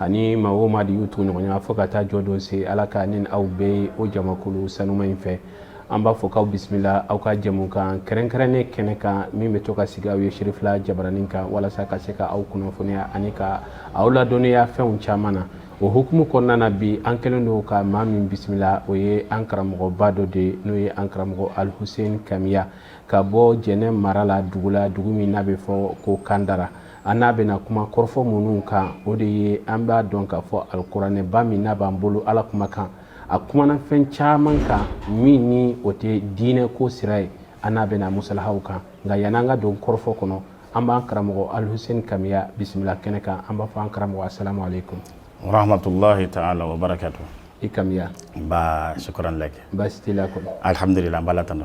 ani maa o maa de y'u tugu ɲɔgɔn na fo ka taa jɔ don se ala k'an ni aw bɛɛ ye o jamakulu sanuma in fɛ an b'a fɔ k'aw bisimila aw ka jɛmukan kɛrɛnkɛrɛnnen kɛnɛ kan min bɛ to ka sigi aw ye serifila jabaranin kan walasa ka se ka aw kunnafoniya ani ka aw ladɔnniya fɛnw caman na o hukumu kɔnɔna na bi an kɛlen don ka maa min bisimila o ye an karamɔgɔba dɔ de ye n'o ye an karamɔgɔ alihusen kamiya ka bɔ jɛnɛ mara la dugu la dugu min n'a bɛ fɔ ko kandara An n'a bɛna kuma kɔrɔfɔ minnu kan o de ye an b'a dɔn k'a fɔ alikuranɛba min n'a b'an bolo ala kumakan a kumana fɛn caman kan min ni o tɛ diinɛ ko sira ye an n'a bɛna musalahaw kan nka yan an ka don kɔrɔfɔ kɔnɔ an b'an karamɔgɔ alihusen kamiya bisimila kɛnɛ kan an b'a fɔ an karamɔgɔ asalamu alekumu warahamatulayi taala i kamiya nba sukuran laki baasi t'i la kɔnɔ alihamdulila an b'ala tanu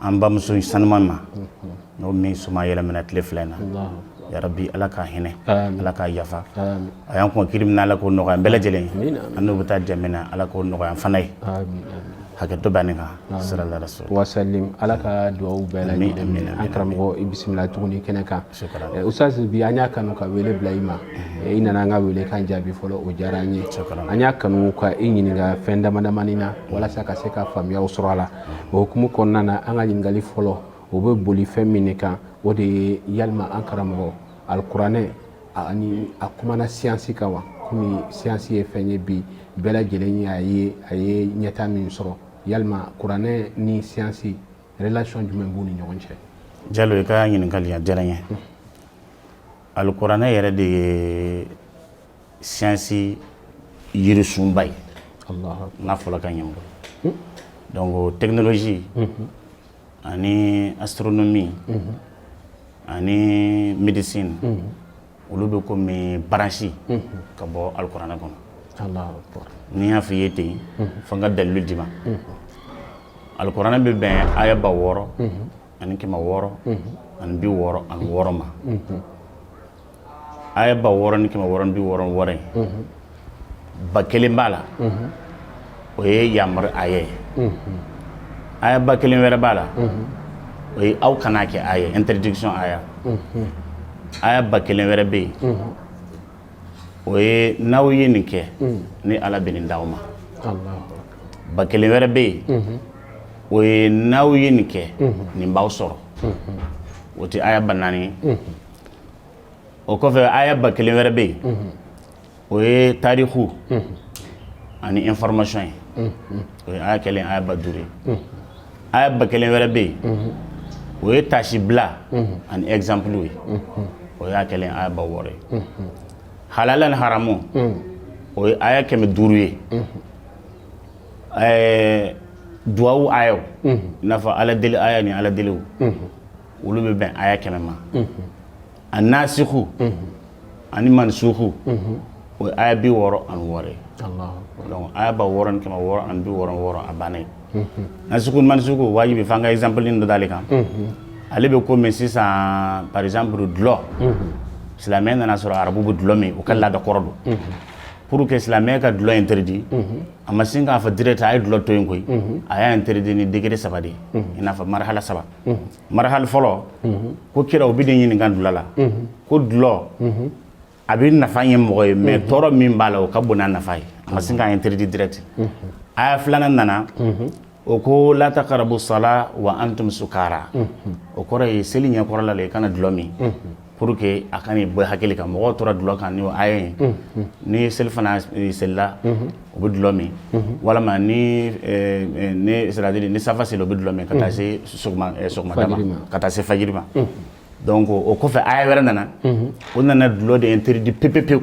an bamuso sanuma ma n'o min suma yɛlɛmana tile fila in na yarabi ala ka hinɛ a la ka yafa a y'an kɔn kiiri min na ala k'o nɔgɔya an bɛɛ lajɛlen an n'u bɛ taa jɛn min na ala k'o nɔgɔya an fana ye hakɛto banni kan sira so ala ka dugawu bɛɛ an karamɔgɔ i bisimila tuguni kɛnɛ kan Eh, ustaz bi an y'a kanu ka wele bila i ma mhm. eh, i nana an ka wele kan jaabi fɔlɔ o diyara an ye an y'a kanu ka i ɲininka fɛn damadamanin na mhm. walasa ka se ka faamuyaw sɔrɔ a la mhm. o hukumu kɔnɔna na an ka ɲininkali fɔlɔ o bɛ boli fɛn min de kan o de ye yalima an karamɔgɔ alikuranɛ ani a kumana siyansi kan wa komi siyansi ye fɛn ye bi bɛɛ lajɛlen ye a ye a ye ɲɛtaa min sɔrɔ yalima kuranɛ ni siyansi relation jumɛn b'u ni ɲɔgɔn cɛ jalo i ka ɲininkali a diyara n ye alikuranɛ yɛrɛ de ye siyansi yirisunba ye n'a fɔla ka ɲɛ bolo donc technologie ani astronomie ani médecine olu bɛ komi branche ka bɔ alikuranɛ kɔnɔ ni n y'a fɔ i ye ten fo n ka dalilu d'i ma alikuranɛ bɛ bɛn aya ba wɔɔrɔ ani kɛmɛ wɔɔrɔ ani bi wɔɔrɔ ani wɔɔrɔ ma aya ba wɔɔrɔ ni kɛmɛ wɔɔrɔ ni bi wɔɔrɔ wɔɔrɔ ye ba kelen b'a la o ye yamaru aya ye aya ba kelen wɛrɛ b'a la o ye aw kana kɛ aya interdiction aya aya ba kelen wɛrɛ bɛ yen o ye n'aw ye nin kɛ ni ala bɛ nin di aw ma ba kelen wɛrɛ bɛ yen o ye n'aw ye nin kɛ nin b'aw sɔrɔ o tɛ aya ba naani o kɔfɛ aya ba kelen wɛrɛ bɛ yen o ye tariku ani information ye o ye aya kɛlen aya ba duuru ye aya ba kelen wɛrɛ bɛ yen o ye taasibila ani exemple ye o y'a kɛlen aya ba wɔɔrɔ ye halala ni haramu o ye aya kɛmɛ duuru ye ɛɛ duwawu ayaw i n'a fɔ ala deli aya ni ala deliw olu bɛ bɛn aya kɛmɛ ma a nasiku ani mansuku o ye aya bi wɔɔrɔ ani wɔɔrɔ ye donc aya ba wɔɔrɔ ni kɛmɛ wɔɔrɔ ani bi wɔɔrɔ wɔɔrɔ a banna nasiku mansuku wajibi f'an ka exemple dɔ d'ale kan ale bɛ komi sisan par exemple dulɔ silamɛ nana sɔrɔ arabu bɛ dulɔ min u ka laada kɔrɔ don pour que silamɛ ka dulɔ interdit a ma sin k'a fɔ direct a ye dulɔ to yen koyi a y'a interdit ni degré saba de ye i n'a fɔ marihala saba marahali fɔlɔ ko kira o b'e de ɲininka dulɔ la ko dulɔ a bɛ nafa ɲɛ mɔgɔ ye mais tɔɔrɔ min b'a la o ka bon n'a nafa ye a ma sin k'a interdit direct aya filanan nana o ko la taqrabu sala wa antum sukara o kɔrɔ ye seli ɲɛkɔrɔla la i kana dulɔ min Pour que a kan'i bɔ i hakili kan mɔgɔw tora dulɔ kan ni o aya ye ni selifana selila o bɛ dulɔ min walima ni c'est-à-dire ni safa seli o bɛ dulɔ min ka taa se sɔgɔmada ma ka taa se fajiri ma donc o kɔfɛ aya wɛrɛ nana o nana dulɔ de interdit pewu pewu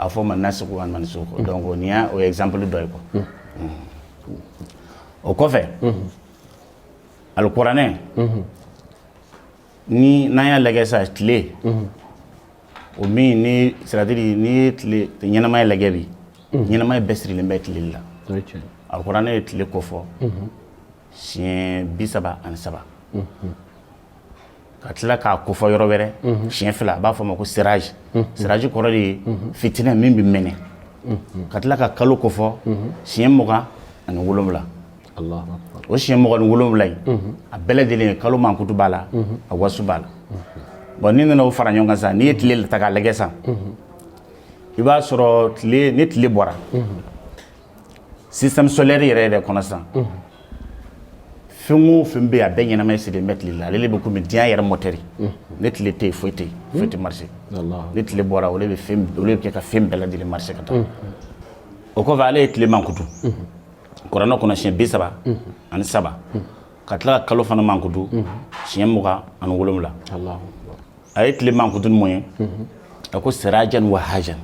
A fɔ ma nasiku wa mansuku donc nin y'o exemple dɔ ye ko o kɔfɛ alikuranɛ ni n'an y'a lajɛ sa tile o min ni c'est-à-dire n'i ye tile ɲɛnamaya lajɛ bi ɲɛnamaya bɛɛ sirilen bɛ tile le la alikuranɛ ye tile kofɔ siɲɛ bi saba ani saba ka tila k'a kofɔ yɔrɔ wɛrɛ siɲɛ fila a b'a fɔ ma ko siraji siraji kɔrɔ de ye fitinɛ min bɛ mɛnɛ ka tila ka kalo kofɔ siɲɛ mugan ani wolowula o siɲɛ mugan ni wolowula in a bɛɛ lajɛlen ye kalo mankutu b'a la a wasu b'a la bon n'i nana o fara ɲɔgɔn kan sa n'i ye tile ta k'a lajɛ sa i b'a sɔrɔ tile ni tile bɔra système solaire yɛrɛ yɛrɛ kɔnɔ sisan fɛn o fɛn bɛ yen a bɛɛ ɲɛnamaya sirilen bɛ tile la ale de bɛ komi diɲɛ yɛrɛ mɔtɛri ni tile tɛ yen foyi tɛ yen foyi tɛ marché ni tile bɔra o de bɛ fɛn o de bɛ kɛ ka fɛn bɛɛ lajɛlen marché ka taa o kɔfɛ ala ye tile mankutu kuranɛ kɔnɔ siɲɛ bi saba ani saba ka tila ka kalo fana mankutu siɲɛ mugan ani wolonwula a ye tile mankutu mun ye a ko sirajan wahajan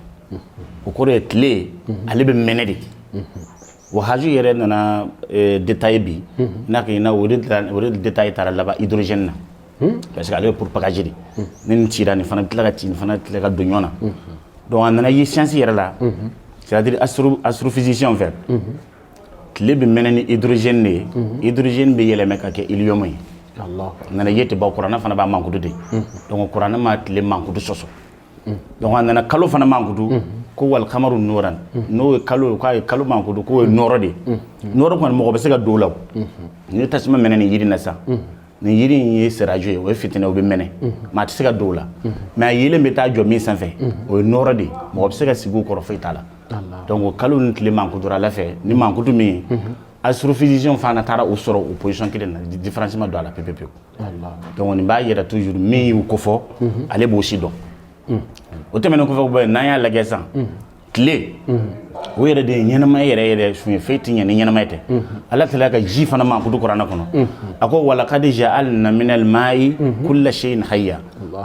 o kɔrɔ ye tile ale bɛ mɛnɛ de wahaju yɛrɛ nana e, détail bi n'a kɛ na o de détail taara laban hydrogène na parce que ale bɛ propager de ni nin cira nin fana bɛ tila ka ci nin fana tila ka don ɲɔgɔn na donc a nana ye science yɛrɛ la c'est à dire astrophysicien fɛ tile bɛ mɛnɛ ni hydrogène de ye hydrogène bɛ yɛlɛmɛ ka kɛ hélium ye nana ye tɛ ban kuranɛ fana b'a mankutu de donc kuranɛ ma tile mankutu sɔsɔ donc a nana kalo fana mankutu ko wal kamaru nuran n'o ye kalo ye k'a ye kalo mankutu k'o ye nɔrɔ de ye nɔrɔ kɔni mɔgɔ bɛ se ka don o la o ni tasuma mɛnɛ nin yiri in na sisan nin yiri in ye sirajo ye o ye fitinɛ o bɛ mɛnɛ maa tɛ se ka don o la mais a yeelen bɛ taa jɔ min sanfɛ o ye nɔrɔ de ye mɔgɔ bɛ se ka sigi o kɔrɔ foyi t'a la donc kalo ni tile mankutura ala fɛ ni mankutu min astrophysicien fana taara u sɔrɔ u position kelen na différence ma don a la pe pewu donc nin b'a yira toujours min y'u kofɔ ale b'o sidɔn o tɛmɛnen kɔfɛ n'an y'a lajɛ san tile o yɛrɛ de ye ɲɛnamaya yɛrɛ yɛrɛ sun ye fɛn tɛ ɲɛ ni ɲɛnamaya tɛ ala tilala ka ji fana mankutu kuranɛ kɔnɔ a ko walakad ja'alna minal ma'i kulla shay'in hayya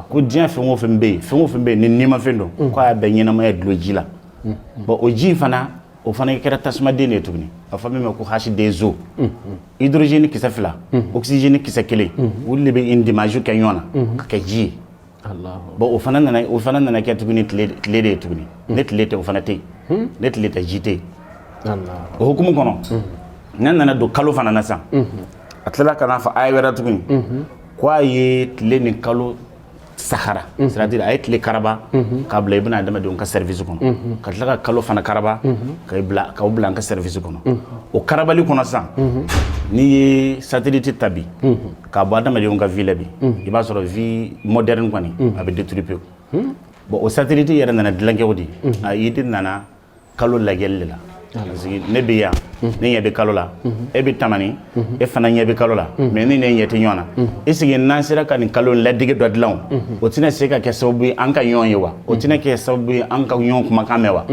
ko diɲɛ fɛn o fɛn bɛ yen fɛn o fɛn bɛ yen ni nimafɛn don mm. k'a bɛɛ ɲɛnamaya dulon ji la mm. bon o ji fana o fana kɛra tasumaden de ye tuguni a fɔ min ma ko H deux O mm, hydrogène kisɛ fila oxygène kisɛ kelen olu de bɛ indimage kɛ ɲɔgɔn na mm-hmm. ka kɛ ji ye bon o fana nana o fana nana kɛ tuguni tile de ye tuguni ni tile tɛ o fana tɛ yen hmm? ni tile tɛ ji tɛ yen o hukumu kɔnɔ ne nana don kalo fana na sisan a tilala ka n'a fɔ aya wɛrɛ tuguni k' a ye tile ni kalo sahara c'est à dire a ye tile karaba k'a bila i bɛna adamadenw ka service kɔnɔ ka tila ka kalo fana karaba k'u bila an ka service kɔnɔ o karabali kɔnɔ san n'i ye satellite ta bi k'a bɔ adamadenw ka vie la bi i b'a sɔrɔ vie moderne kɔni a bɛ détruire pewu bon o satellite yɛrɛ nana dilan cogo di a idée nana kalo lajɛli de la ne bɛ yan ne ɲɛ bɛ kalo la e bɛ tamani e fana ɲɛ bɛ kalo la mais e ni ne ɲɛ tɛ ɲɔgɔn na est-ce que n'an sera ka nin kalo ladege dɔ dilan o tɛna se ka kɛ sababu ye an ka ɲɔgɔn ye wa o tɛna kɛ sababu ye an ka ɲɔgɔn kumakan mɛn wa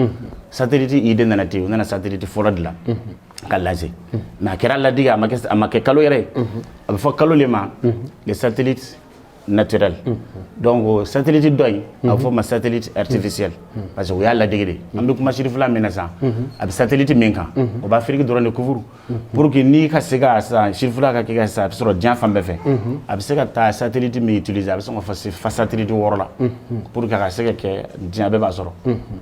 satellite idée nana ten u nana satellite fɔlɔ dilan k'a lancer mais a kɛra ladege a ma kɛ kalo yɛrɛ a bɛ fɔ kalo de ma le satellite naturel donc satellite dɔ in a bɛ fɔ o ma satellite artificiel parce que u y'a ladege de an bɛ kuma sirifila min na sisan a bɛ satellite min kan o bɛ Afiriki dɔrɔn de couvrir pour que n'i ka se ka sisan sirifila ka kɛ ka sisan a bɛ sɔrɔ diɲɛ fan bɛɛ fɛ a bɛ se ka taa satellite min utiliser a bɛ sɔn ka fɔ fa satellite wɔɔrɔ la pour que a ka se ka kɛ diɲɛ bɛɛ b'a sɔrɔ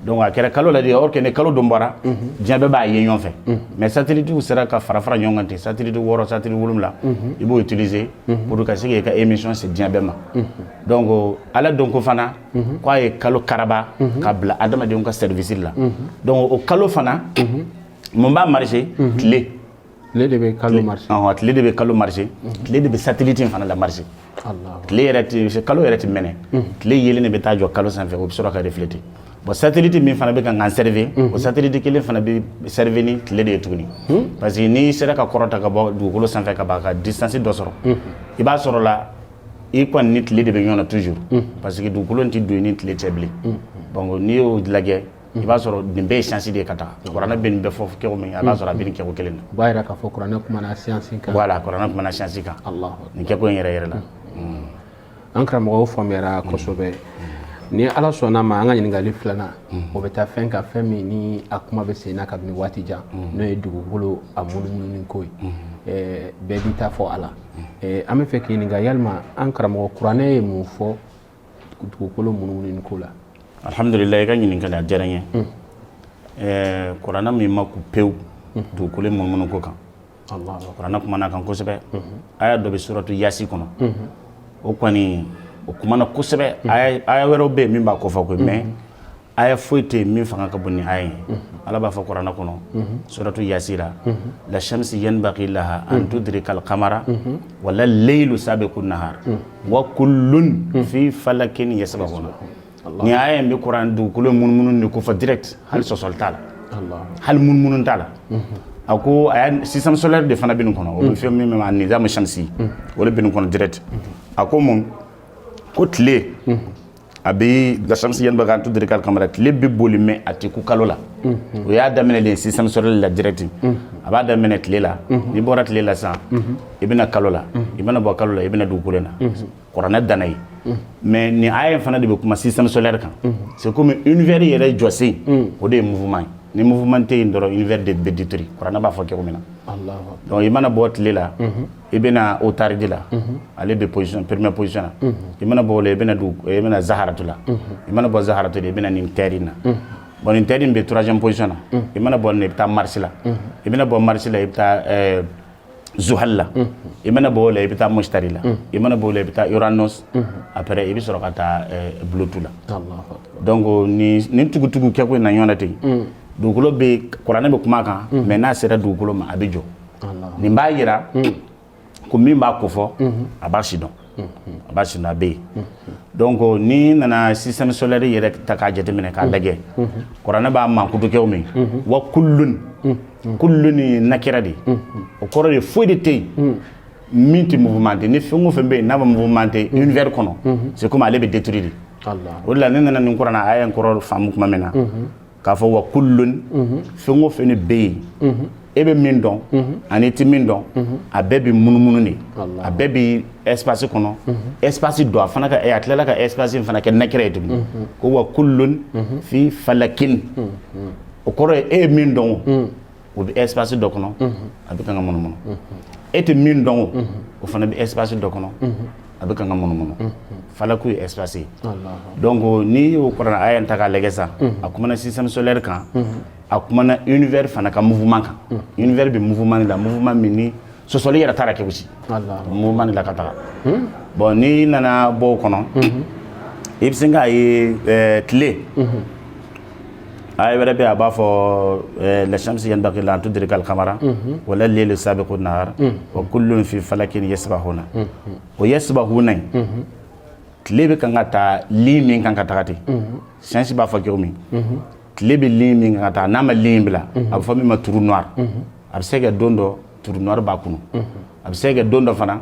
donc a kɛra kalo la de or que ni kalo dun bɔra diɲɛ bɛɛ b'a ye ɲɔgɔn fɛ mais satellite sera ka fara fara ɲɔgɔn kan ten satellite wɔɔrɔ satellite wolonwula i b'o utiliser pour que ka se k'i ka émission se diɲɛ bɛɛ ma donc ala dun ko fana k'a ye kalo karaba ka bila adamadenw ka service la donc o kalo fana mun b'a marché tile tile de bɛ kalo marché tile de bɛ kalo marché tile de bɛ satellite fana la marché tile yɛrɛ tɛ kalo yɛrɛ tɛ mɛnɛ tile yeelen de bɛ taa jɔ kalo sanfɛ o bɛ sɔrɔ ka refléter bon satellite min fana bɛ kan k'an serve o satellite kelen fana bɛ serve ni tile de ye tuguni parce que n'i sera ka kɔrɔta ka bɔ dugukolo sanfɛ ka ban ka distance dɔ sɔrɔ i b'a sɔrɔ la i kɔni ni tile de bɛ ɲɔgɔn na toujours parce que dugukolo tɛ don i ni tile cɛ bilen donc n'i y'o lajɛ i b'a sɔrɔ nin bɛɛ ye science de ye ka taa kuranɛ bɛ nin bɛɛ fɔ kɛko min na b'a sɔrɔ a bɛ nin kɛko kelen na o b'a jira k'a fɔ kuranɛ kumana science kan voilà kuranɛ kumana science kan nin kɛko in yɛrɛ yɛrɛ la an karamɔgɔ a faamuyara kosɛbɛ ni ala sɔnn'a ma an ka ɲininkali filanan o bɛ taa fɛn kan fɛn min ni a kuma bɛ sen na kabini waati jan n'o ye dugukolo a munumununi ko ye bɛɛ b'i ta fɔ a la an b'a fɛ k'i ɲininka yalima an karamɔgɔ kuranɛ ye mun fɔ dugukolo munumununi ko la alihamdulila i ka ɲininkali a diyara n ye kuranɛ m'i makun pewu dugukolo munumunu ko kan kuranɛ kumana a kan kosɛbɛ aya dɔ bɛ suratu yasi kɔnɔ o kɔni o kumana kosɛbɛ aya wɛrɛw bɛ yen min b'a kofɔ koyi mais aya foyi tɛ yen min fanga ka bon ni aya ye ala b'a fɔ kuranɛ kɔnɔ suratu yasi la la shamsi yanbaghi laha an tudrika al-qamara wala laylu sabiqu nahar wa kullun fi falakin yasbahuna Nin aya bɛ kuran dugukolo munumunu de kofɔ direct hali sɔsɔli t'a la hali munumunu t'a la a ko a système solaire de fana bɛ nin kɔnɔ o bɛ fɔ min ma nizamu shamsi o de bɛ nin kɔnɔ direct a ko mun ko tile a bɛ la shamsi yanbaghi an tudrika al-qamara tile bɛ boli mais a tɛ kun kalo la o y'a daminɛ système solaire la direct a b'a daminɛ tile la n'i bɔra tile la sa i bɛna kalo la i bɛna bɔ kalo la i bɛna dugukolo la kuranɛ danna yen mais nin aya fana de bɛ kuma système solaire kan c'est comme univers yɛrɛ jɔsen o de ye mouvement ye ni mouvement tɛ yen dɔrɔn univers de bɛ détruire kuranɛ b'a fɔ cogo min na donc i mana bɔ tile la i bɛna otaridi la ale bɛ position première position na i mana bɔ o la i bɛna dugu i bɛna zaharatu la i mana bɔ zaharatu la i bɛna nin terre in na bon nin terre in bɛ troisième position na i mana bɔ nin na i bɛ taa marsi la i bɛna bɔ marsi la i bɛ taa zuhal la i mana bɔ o la i bɛ taa mustari la i mana bɔ o la i bɛ taa uranus après i bɛ sɔrɔ ka taa pluto la donc nin tugutugu kɛko in na ɲɔgɔn na ten dugukolo bɛ kuranɛ bɛ kuma kan mais n'a sera dugukolo ma a bɛ jɔ nin b'a yira ko min b'a kofɔ a b'a sidɔn a b'a sidɔn a bɛ yen donc n'i nana système solaire yɛrɛ ta k'a jateminɛ k'a lajɛ kuranɛ b'a mankutu cogo min wa kullun kullun in nakira de o kɔrɔ de foyi de tɛ yen min tɛ mouvementé ni fɛn o fɛn bɛ yen n'a bɛ mouvementé univers kɔnɔ c'est comme ale bɛ détruire de o de la ne nana nin kuranɛ aya in kɔrɔ faamu tuma min na k'a fɔ wa kullun fɛn o fɛn de bɛ yen e bɛ min dɔn an'i tɛ min dɔn a bɛɛ bɛ munumunu de a bɛɛ bɛ espace kɔnɔ espace dɔ a fana ka a tilala ka espace in fana kɛ nakira ye tuguni ko wa kullun fi falakin o kɔrɔ ye e bɛ min dɔn o bɛ espace dɔ kɔnɔ a bɛ kan ka munumunu e tɛ min dɔn o o fana bɛ espace dɔ kɔnɔ a bɛ kan ka munumunu falaku ye espace ye donc n'i y'o kuranɛ aya in ta k'a lajɛ sa a kumana système solaire kan a kumana univers fana ka mouvement kan univers bɛ mouvement de la mouvement min ni sɔsɔli yɛrɛ t'a la kɛ gosi mouvement de la ka taga bon n'i nana bɔ o kɔnɔ i bɛ se k'a ye tile aya wɛrɛ bɛ a b'a fɔ la shamsi yanbaghi laha an tudrika al-qamara wala laylu sabiqu nahar wa kullun fi falakin yasbahuna o yasbahuna in tile bɛ kan ka taa ligne min kan ka taga ten science b'a fɔ cogo min tile bɛ ligne min kan ka taa n'a ma ligne in bila a bɛ fɔ min ma trou noir a bɛ se ka don dɔ trou noir b'a kunu a bɛ se ka don dɔ fana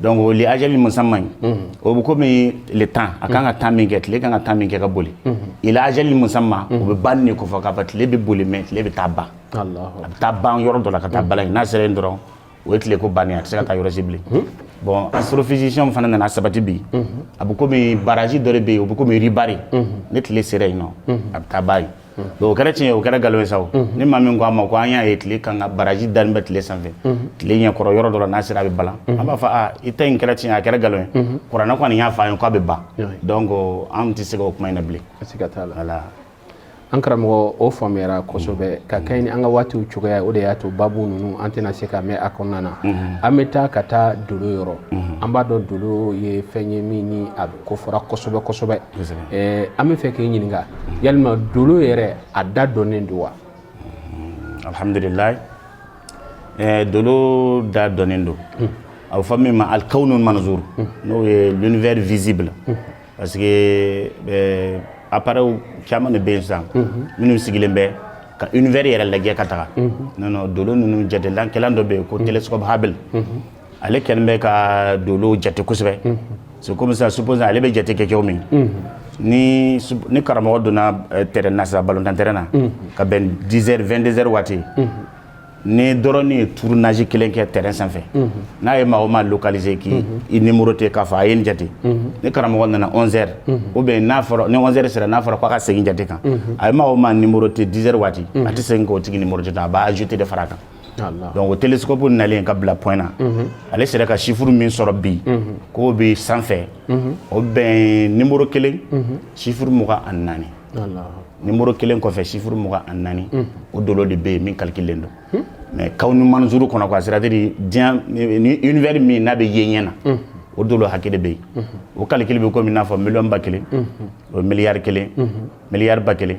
donc o li ajalin musamman o bɛ komi le temps a kan ka temps min kɛ tile kan ka temps min kɛ ka boli ila ajalin musamman o bɛ ban de kofɔ k'a fɔ tile bɛ boli mais tile bɛ taa ban a bɛ taa ban yɔrɔ dɔ la ka taa balan n'a sera yen dɔrɔn o ye tile ko bannen a tɛ se ka taa yɔrɔ si bilen bon astrophysicien fana nana sabati bi a bɛ komi baraji dɔ de bɛ yen o bɛ komi ribari ni tile sera yen nɔ a bɛ taa ban yen o kɛra tiɲɛ o kɛra nkalon ye sabu ni maa min ko an ma ko an y'a ye tile kan ka baraji dalen bɛ tile sanfɛ tile ɲɛkɔrɔ yɔrɔ dɔ la n'a sera a bɛ balan an b'a fɔ i ta in kɛra tiɲɛ a kɛra nkalon ye kuranɛ kɔni y'a fɔ an ye k'a bɛ ban donc an tɛ se k'o kuma in na bilen siga t'a la voilà an karamɔgɔ o faamuyara kosɛbɛ ka kɛɲɛ ni an ka waatiw cogoya o de y'a to babu ninnu an tɛna se ka mɛn a kɔnɔna na an bɛ taa ka taa dolo yɔrɔ an b'a dɔn dolo ye fɛn ye min ni a kofɔra kosɛbɛ kosɛbɛ an b'a fɛ k'i ɲininka yalima dolo yɛrɛ a da dɔnnen don wa alihamdulila dolo da dɔnnen don a bɛ fɔ min ma alikawunu manzuru n'o ye l'univers visible parce que appareil caman de bɛ yen sisan minnu sigilen bɛ ka univers yɛrɛ lajɛ ka taga non dolo ninnu jatelikɛlan dɔ bɛ yen ko télescope Hubble ale kɛlen bɛ ka don jate kosɛbɛ se kɔmimi sup ale bɛ jate kɛ cogo min ni ni karamɔgɔ donna tɛ nasa balotanɛ na ka bɛn dizz waati ni dɔrɔn ye tuuru naasi kelen kɛ tɛ sanfɛ n'a ye maa ma kalize k' i ni muru tɛ k'a fɔ a ye n jate ni karamɔgɔ nana anwɛri o bɛ n'a fɔra sera n'a fɔra k' ka segin jate kan a ye maa ma ni muru tɛ dizsɛri waati a tɛ segin k' tigi ni muru a b'a jute de fara a kan donc o télescope nalen ka bila point na ale sera ka sifuru min sɔrɔ bi k'o bɛ sanfɛ o bɛn nimoro kelen sifuru mugan ani naani nimoro kelen kɔfɛ sifuru mugan ani naani o dolo de bɛ yen min kalikilelen don mais kawunu manzuru kɔnɔ quoi c'est-à-dire diɲɛ ni univers min n'a bɛ ye ɲɛ na o dolo hakɛ de bɛ yen o kalikili bɛ komi i n'a fɔ miliyɔn ba kelen o miliyari kelen miliyari ba kelen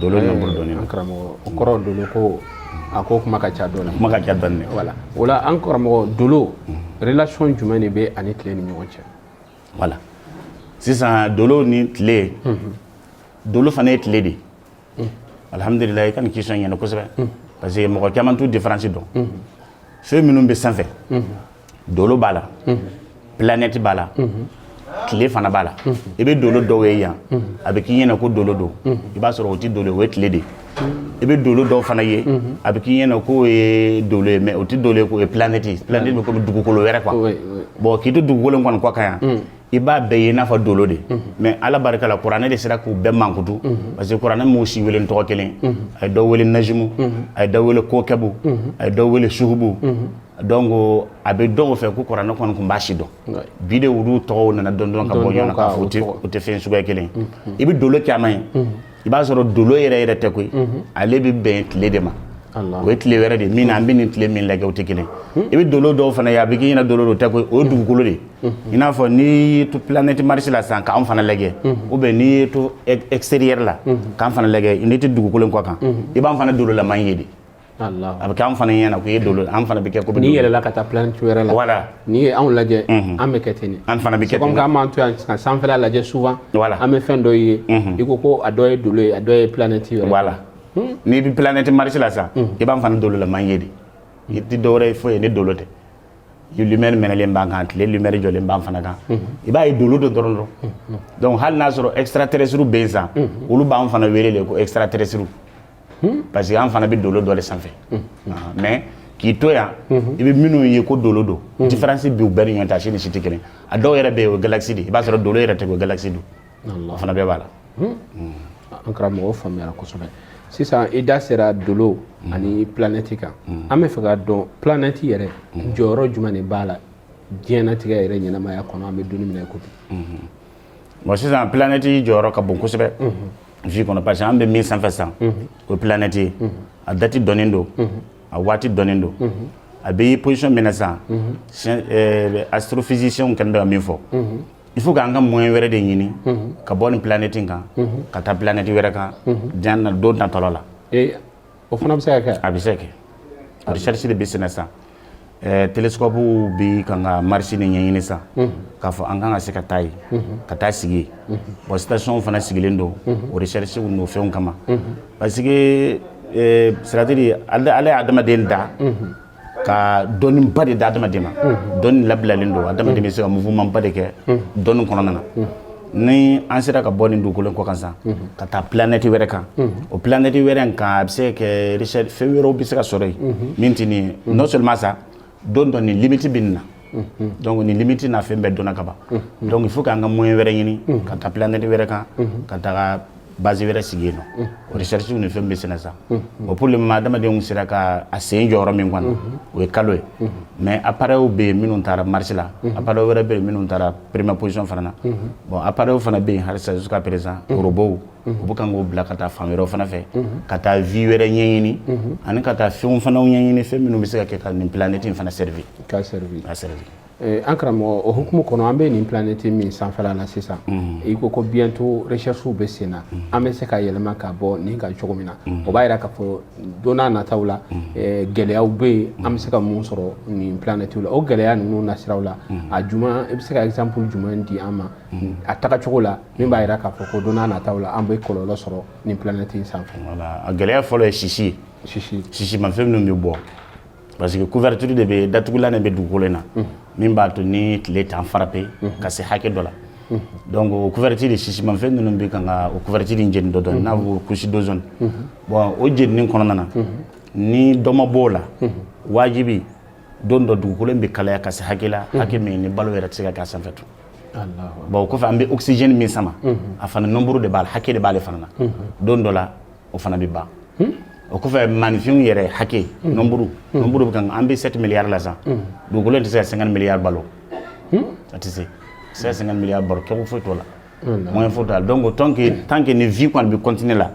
Dolo nombre dɔnnen an karamɔgɔ o kɔrɔ dolo ko a ko kuma ka ca dɔɔnin kuma ka ca dɔɔnin voilà o la an karamɔgɔ dolo relation jumɛn de bɛ ani tile ni ɲɔgɔn cɛ voilà sisan dolo ni tile dolo fana ye tile de alihamdulila i ka nin question ɲɛna kosɛbɛ parce que mɔgɔ caman t'u différence dɔn fɛn minnu bɛ sanfɛ dolo b'a la planète b'a la tile fana b'a la i bɛ dolo dɔw ye yan a bɛ k'i ɲɛna ko dolo don i b'a sɔrɔ o tɛ dolo ye o ye tile de ye i bɛ dolo dɔw fana ye a bɛ k'i ɲɛna k'o ye dolo ye mais o tɛ dolo ye k'o ye planète ye planète bɛ komi dugukolo wɛrɛ quoi bon k'i to dugukolo in kɔni kɔ kan yan i b'a bɛɛ ye i n'a fɔ dolo de mais ala barika la kuranɛ de sera k'u bɛɛ mankutu parce que kuranɛ m'u si wele tɔgɔ kelen a ye dɔ wele najimu a ye dɔ wele kokɛbu a ye dɔ wele suhubu donc a bɛ dɔn o fɛ ko kuranɛ kɔni tun b'a si dɔn bi de olu tɔgɔw nana dɔn dɔn ka bɔ ɲɔgɔn na k'a fɔ u tɛ fɛn suguya kelen i bɛ dolo caman ye i b'a sɔrɔ dolo yɛrɛ yɛrɛ tɛ koyi ale bɛ bɛn tile de ma o ye tile wɛrɛ de min na an bɛ nin tile min lajɛ o tɛ kelen i bɛ dolo dɔw fana ye a bɛ k'i ɲɛna dolo dɔ tɛ koyi o ye dugukolo de i n'a fɔ n'i y'i to planète Mars la sisan k'an fana lajɛ ou bien n'i y'i to extérieur la k'an fana lajɛ n'i tɛ dugukolo in kɔ kan i b'an fana dololama ye de a bɛ kɛ an fana ɲɛna k'o ye dolo an fana bɛ kɛ ko n'i yɛlɛla ka taa planète wɛrɛ la voilà n'i ye anw lajɛ an bɛ kɛ ten an fana bɛ kɛ ten an b'an to yan sisan sanfɛla lajɛ souvent voilà an bɛ fɛn dɔ ye i ko ko a dɔ ye dolo ye a dɔ ye planète ye voilà n'i bɛ planète Mars la sisan i b'an fana dolo laman ye de i tɛ dɔwɛrɛ ye foyi ye ni dolo tɛ lumière mɛnɛlen b'an kan tile lumière jɔlen b'an fana kan i b'a ye dolo dɔ dɔrɔn dɔrɔn donc hali n'a sɔrɔ extraterrestre bɛ yen sisan olu b'an fana wele de ko extraterrestre Hmm? parce que an fana bɛ dolo dɔ de sanfɛ hmm. ah, mais k'i to yan hmm. i bɛ minnu ye ko dolo don différence b'u bɛɛ ni ɲɔgɔn cɛ a si ni si tɛ kelen a dɔw yɛrɛ bɛ yen o ye galaxie de i b'a sɔrɔ dolo yɛrɛ tɛ o galaxie don o fana bɛɛ b'a la an karamɔgɔ faamuyara kosɛbɛ sisan i da sera dolo ani planète kan an b'a fɛ k'a dɔn planète yɛrɛ jɔyɔrɔ jumɛn de b'a la diɲɛnatigɛ yɛrɛ ɲɛnamaya kɔnɔ an bɛ don min na i ko bi bon sisan planète jɔyɔrɔ ka bon kosɛbɛ vie mhm. kɔnɔ parce que an bɛ min sanfɛ sisan mhm. o ye planète ye mhm. a date dɔnnen don a waati dɔnnen don a bɛ ye position min na sisan euh, astrophysiciens kɛlen bɛ ka min fɔ il faut k'an ka moyen wɛrɛ de ɲini ka bɔ nin planète in kan ka taa planète wɛrɛ kan diɲɛ na don natɔla la o fana bɛ se ka kɛ a bɛ se ka kɛ recherche de bɛ senna sisan télescope bɛ kan ka Mars nin ɲɛɲini sisan k'a fɔ an kan ka se ka taa yen ka taa sigi yen bon station fana sigilen don o recherche n'o fɛnw kama parce que c'est-à-dire Ala ye adamaden da ka dɔnniba de di adamaden ma dɔnni labilalen don adamaden bɛ se ka mouvement ba de kɛ dɔnni kɔnɔna na ni an sera ka bɔ nin dugukolo kɔ kan san ka taa planète wɛrɛ kan o planète wɛrɛ in kan a bɛ se ka kɛ richesse fɛn wɛrɛw bɛ se ka sɔrɔ yen min tɛ nin ye non seulement ça dɔn dɔnni limite bɛ nin na donc nin limite na fɛn bɛɛ dɔnna ka ban donc il faut k'an ka moyen wɛrɛ ɲini ka taa planète wɛrɛ kan ka taga base wɛrɛ sigi yen nɔ o recherche ni fɛn bɛ senna sa o pour le moment adamadenw sera ka a sen jɔ yɔrɔ min kɔnɔ o ye kalo ye mais appareils bɛ yen minnu taara Mars la appareils wɛrɛ bɛ yen minnu taara première position fana na bon appareils fana bɛ yen halisa jusqu'à présent robots u bɛ kan k'o bila ka taa fan wɛrɛw fana fɛ ka taa vie wɛrɛ ɲɛɲini ani ka taa fɛnw fana ɲɛɲini fɛn minnu bɛ se ka kɛ ka nin planète in fana servir ka servir ka servir eh, an karamɔgɔ o hukumu kɔnɔ an bɛ nin planète min sanfɛla la sisan i ko ko bientôt recherche bɛ sen na an bɛ se ka yɛlɛma ka bɔ nin kan cogo min na o b'a jira k'a fɔ don nataw la eh, gɛlɛyaw bɛ yen an bɛ se ka mun sɔrɔ nin planètew la o gɛlɛya ninnu nasiraw la a jumɛn i bɛ se ka exemple jumɛn di an ma a tagacogo la min b'a jira k'a fɔ ko don nataw la an bɛ kɔlɔlɔ sɔrɔ nin planète in sanfɛ. Voilà a gɛlɛya fɔlɔ ye sisi ye. Sisi. Sisimafɛn minnu bɛ bɔ parce que couverture de bɛ datugulan de bɛ dugukolo in na. Unhun. Min b'a to ni tile t'an frapper ka se hakɛ dɔ la. Unhun. Donc o couverture sisimafɛn ninnu bɛ kan ka o couverture in jeni dɔɔni dɔɔni n'a bɛ ko couche d'ozone. Unhun. Bon o jenini kɔnɔna na. Unhun. Ni dɔ ma bɔ o la. Unhun. Wajibi don dɔ dugukolo bɛ kalaya ka se hakɛ la hakɛ min ni balo yɛrɛ tɛ se ka k'a sanfɛ tun bon o kɔfɛ an bɛ oxygène min sama a fana nombre de b'a la hakɛ de b'ale fana na don dɔ la o fana bɛ ban o kɔfɛ maaninfinw yɛrɛ hakɛ nombre nombre bɛ kan an bɛ 7 milliards la sisan dugukolo tɛ se ka 50 milliards balo a tɛ se a tɛ se ka 50 milliards balo kɛko foyi t'o la moyen foyi t'a la donc tant que tant que ni vie kɔni bɛ continuer la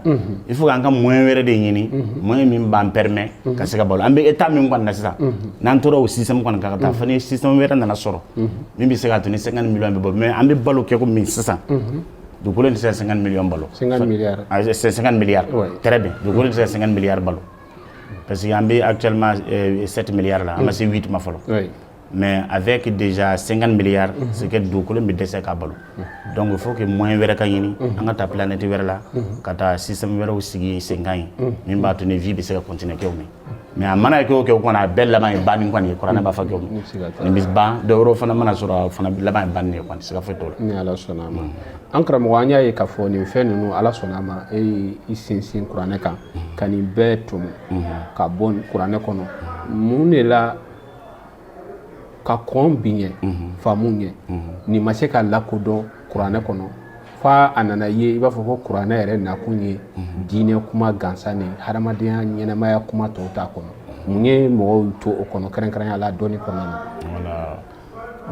il faut k'an ka moyen wɛrɛ de ɲini moyen min b'an permet ka se ka balo an bɛ état min kɔni na sisan n'an tora o système kɔni kan ka taa fo ni système wɛrɛ nana sɔrɔ min bɛ se k'a to ni 50 millions bɛ bɔ mais an bɛ balo kɛko min sisan dugukolo in tɛ se ka 50 millions balo 50 milliards 50 milliards très bien dugukolo in tɛ se ka 50 milliards balo parce que an bɛ actuellement 7 milliards la an ma se 8 ma fɔlɔ mais avec déjà 50 milliards c'est que dugukolo bɛ dɛsɛ ka balo donc il faut que moyen wɛrɛ ka ɲini an ka taa planète wɛrɛ la ka taa système wɛrɛw sigi senkan yen min b'a to ni vie bɛ se ka continuer kɛko min mais a mana kɛ o kɛ o kɔni a bɛɛ laban ye banni kɔni ye kuranɛ b'a fɔ kɛko min nin bɛ ban dɔ wɛrɛ fana mana sɔrɔ a fana laban ye banni ye kɔni siga foyi t'o la ni ala sɔnna a ma an karamɔgɔ an y'a ye k'a fɔ nin fɛn ninnu ala sɔnna a ma e i sinsin kuranɛ kan ka nin bɛɛ tɔmɔ ka bɔ kuranɛ kɔnɔ mun de la ka kɔn bi ɲɛ mhm. faamu ɲɛ mhm. nin ma se ka lakodɔn kuranɛ kɔnɔ fo a nana ye i b'a fɔ ko kuranɛ yɛrɛ nakun ye mhm. diinɛ kuma gansan ni hadamadenya ɲɛnamaya kuma tɔw t'a kɔnɔ mun ye mɔgɔw to o kɔnɔ kɛrɛnkɛrɛnya la dɔnni kɔnɔna na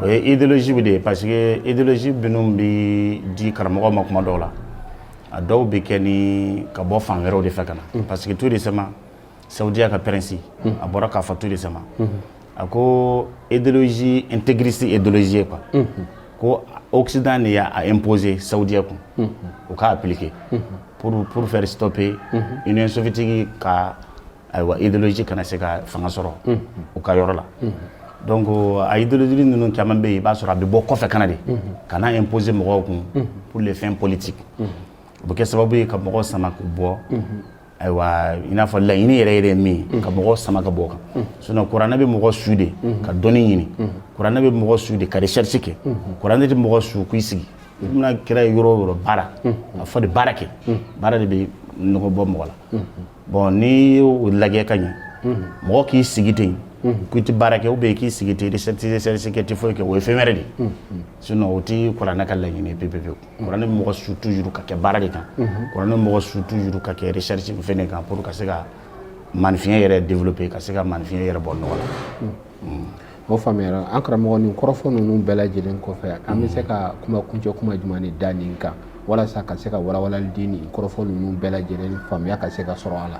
o ye idéologiew de ye parce que idéologie minnu bɛ di karamɔgɔw ma kuma dɔw la a dɔw bɛ kɛ ni ka bɔ fan wɛrɛw de fɛ ka na parce que tout récemment sadiya ka pɛrɛnsi a bɔra k'a fɔ tu de sama a ko edzi n tɛgrisi edzi pa ko osida de y'a n ppze sadiya kun o k'a ppkike p poro fɛrɛsitɔ pe yen n sofitigi ka ayiwa edsi kana se ka fanga sɔrɔ u ka yɔrɔ la dɔn ko a ye delieled ninnu caman bɛ yen i b'a sɔrɔ a bɛ bɔ kɔfɛ kana de ka n'a n ppzse mɔgɔw kun pur de fɛn politi u bɛ kɛ sababu ye ka mɔgɔw sama k'u bɔ ayiwa i n'a fɔ laɲini yɛrɛ yɛrɛ min ye ka mɔgɔw sama ka bɔ o kan sinon kuranɛ bɛ mɔgɔ su de ka dɔnni ɲini kuranɛ bɛ mɔgɔ su de ka recherche kɛ kuranɛ tɛ mɔgɔ su k'i sigi i bɛna kira ye yɔrɔ o yɔrɔ baara a fɔ de baara kɛ baara de bɛ nɔgɔ bɔ mɔgɔ la bon n'i y'o lajɛ ka ɲɛ mɔgɔ k'i sigi ten ko i tɛ baara kɛ ou bien k'i sigi i tɛ recherche kɛ i tɛ foyi kɛ o ye fɛn wɛrɛ de ye sinon o tɛ kuranɛ ka laɲini ye pewu pewu kuranɛ bɛ mɔgɔ su toujours ka kɛ baara de kan kuranɛ bɛ mɔgɔ su toujours ka kɛ recherche fɛn de kan pour ka se ka maaninfinya yɛrɛ développer ka se ka maaninfinya yɛrɛ bɔ nɔgɔ la o faamuyara an karamɔgɔ nin kɔrɔfɔ ninnu bɛɛ lajɛlen kɔfɛ an bɛ se ka kuma kuncɛ kuma jumɛn de da nin kan walasa ka se ka walawalali di nin kɔrɔfɔ ninnu bɛɛ lajɛlen faamuya ka se ka sɔrɔ a la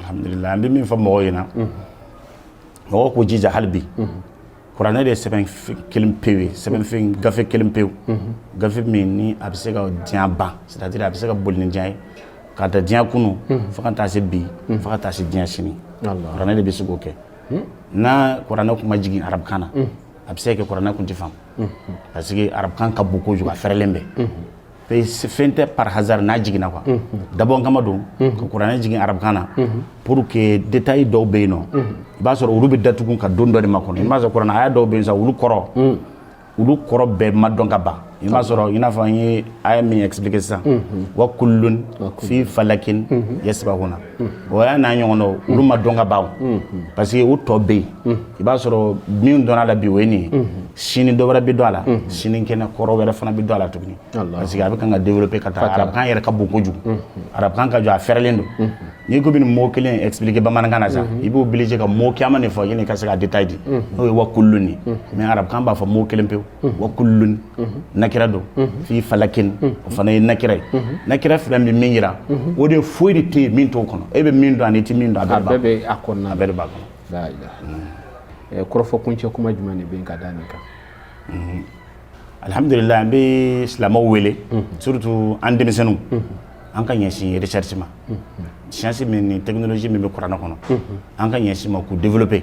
alhamdulillah an bɛ min fɔ mɔgɔw ɲɛna mɔgɔw k'u jija hali bi kuranɛ de ye sɛbɛn kelen pewu ye sɛbɛnfɛn gafe kelen pewu gafe min ni a bɛ se ka diɲɛ ban c'est à dire a bɛ se ka boli ni diɲɛ ye ka ta diɲɛ kunu fo ka taa se bi fo ka taa se diɲɛ sini kuranɛ de bɛ se k'o kɛ n'a kuranɛ kun ma jigin arabukan na a bɛ se ka kɛ kuranɛ kun tɛ faamu parce que arabukan ka bon kojugu a fɛrɛlen bɛ fɛn tɛ par hasard n'a jiginna quoi dabɔ kama don ka kuranɛ jigin arabukan na pour que détail dɔw bɛ yen nɔ i b'a sɔrɔ olu bɛ datugu ka don dɔ de makɔnɔ i b'a sɔrɔ kuranɛ aya dɔw bɛ yen sa olu kɔrɔ olu kɔrɔ bɛɛ ma dɔn ka ban i b'a sɔrɔ i n'a fɔ an ye aya min expliquer sisan wa kullun fi falakin yasbahuna o aya n'a ɲɔgɔn dɔw olu ma dɔn ka ban parce que o tɔ bɛ yen i b'a sɔrɔ min dɔnna a la bi o ye nin ye sini dɔ wɛrɛ bɛ dɔn a la sini kɛnɛ kɔrɔ wɛrɛ fana bɛ dɔn a la tuguni parce que a bɛ kan ka développer ka taa arabukan yɛrɛ ka bon kojugu arabukan ka jɔ a fɛrɛlen don n'i ko i bɛ nin mot kelen expliquer bamanankan na sa i bɛ obligé ka mot caman de fɔ yanni ka se ka détail di n'o ye wa kullun ye mais arabukan b'a fɔ mot kelen pewu wa kullun nakira don fi falakin o fana ye nakira ye nakira fila bɛ min yira o de foyi de tɛ yen min t'o kɔnɔ e bɛ min dɔn ani i tɛ min dɔn a bɛɛ bɛ a kɔnɔna a bɛɛ de b'a kɔnɔ kɔrɔfɔ kuncɛ kuma jumɛn de bɛ yen ka da nin kan alhamdulillah an bɛ silamɛw wele surtout an denmisɛnninw an ka ɲɛsin recherche ma science min ni technologie min bɛ kuranɛ kɔnɔ an ka ɲɛsin ma k'u développer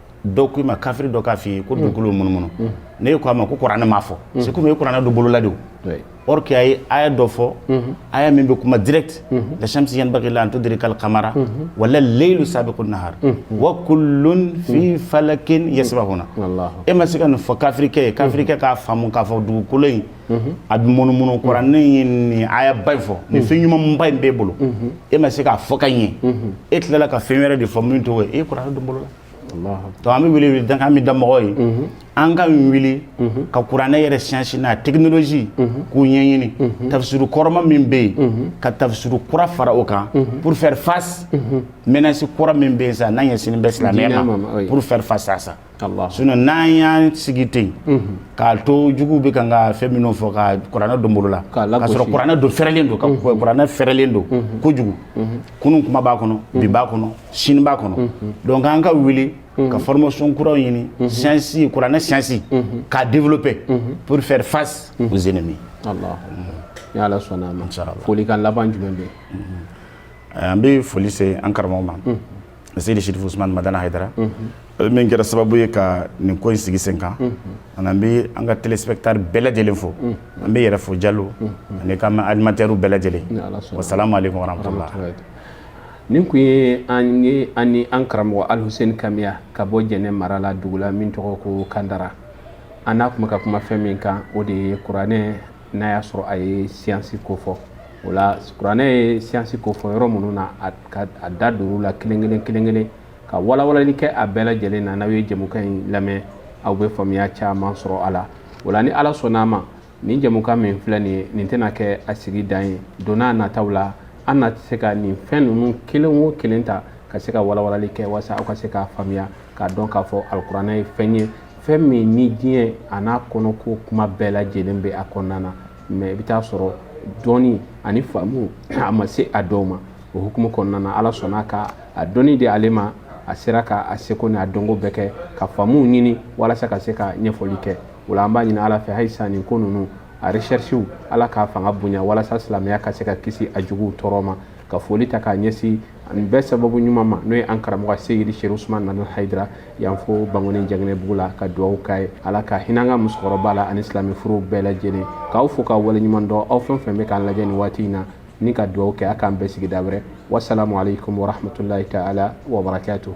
dɔw k'i ma kafiri dɔ k'a f'i ye ko dugukolo bɛ munumunu n'e ko a ma ko kuranɛ m'a fɔ c'est comme e ye kuranɛ don bolo la de o or que a ye aya dɔ fɔ aya min bɛ kuma direct la shamsi yanbaghi laha an tudrika al qamara wala laylu sabiqun nahar wa kullun fi falakin yasbahuna e ma se ka nin fɔ kafirikɛ ye kafirikɛ k'a faamu k'a fɔ dugukolo in a bɛ munumunu kuranɛ ye nin aya ba in fɔ nin fɛn ɲuman ba in b'e bolo e ma se k'a fɔ ka ɲɛ e tilala ka fɛn wɛrɛ de fɔ min t'o ye e ye kuranɛ don bolo la donc an bɛ wele wele da an bɛ da mɔgɔw ye an ka wuli ka kuranɛ yɛrɛ science n'a technologie k'u ɲɛɲini tafisiru kɔrɔma min bɛ yen ka tafisiru kura fara o kan pour faire face menace kura min bɛ yen sa n'a ɲɛsinnen bɛ silamɛya ma pour faire face à ça n'an y'an sigi ten k'a to juguw bɛ kan ka fɛn minnu fɔ ka kuranɛ don bolo la ka sɔrɔ kuranɛ dun fɛrɛlen don kuranɛ fɛrɛlen don kojugu kunun kuma b'a kɔnɔ bi b'a kɔnɔ sini b'a kɔnɔ donc an ka wuli ka formation kuraw ɲini siyansi kuranɛ siyansi k'a développer pour faire face aux ennemis ni ala sɔnna folikan laban jumɛn bɛ an bɛ foli se an karamɔgɔ ma seydi serifu usman madana haydara ale min kɛra sababu ye ka nin ko in sigi sen kan ani an bɛ an ka téléspectateurs bɛɛ lajɛlen fo an b'i yɛrɛ fo jalo an'i ka animateurs bɛɛ lajɛlen wasalamu aleykum warahmatulahi nin kun ye an ye an ni an karamɔgɔ alhuseni kamiya ka bɔ jɛnɛ mara la dugu la min tɔgɔ ko kandara an n'a tun bɛ ka kuma fɛn min kan o de ye kuranɛ n'a y'a sɔrɔ a ye siyansi ko fɔ o la kuranɛ ye siyansi ko fɔ yɔrɔ minnu na a da duuru la kelen kelen kelen kelen ka walawalali kɛ a bɛɛ lajɛlen na n'aw ye jɛmukan in lamɛn aw bɛ faamuya caman sɔrɔ a la o la ni ala sɔnn'a ma nin jɛmukan min filɛ nin ye nin tɛna kɛ a sigi dan ye don n'a nataw la an na se ka nin fɛn ninnu kelen o kelen ta ka se ka walawalali kɛ walasa aw ka se k'a faamuya k'a dɔn k'a fɔ alikuranɛ ye fɛn ye fɛn min ni diɲɛ a n'a kɔnɔko kuma bɛɛ lajɛlen bɛ a kɔnɔna na mais i bɛ taa sɔrɔ dɔnni ani faamu a ma se a dɔw ma o hukumu kɔnɔna na ala sɔnna ka a dɔnni di ale ma a sera ka a seko n'a dɔnko bɛɛ kɛ ka faamuw ɲini walasa ka se ka ɲɛfɔli kɛ o la an b'a ɲini ala fɛ halisa nin ko ninnu a recherches ala k'a fanga bonya walasa silamɛya ka se ka kisi a juguw tɔɔrɔ ma ka foli ta k'a ɲɛsin nin bɛɛ sababu ɲuman ma n'o ye an karamɔgɔ seyidi serifu usman madana haydara yan fo bangoni janginɛbugu la ka dugawu k'a ye ala ka hinɛ an ka musokɔrɔba la ani silamɛ furew bɛɛ lajɛlen k'aw fo k'aw waleɲuman dɔn aw fɛn fɛn bɛ k'an lajɛ nin waati in na ni ka dugawu kɛ ala k'an bɛn sigida wɛrɛ wasalamu aleykum warahmatulahi taala wabarakatuhu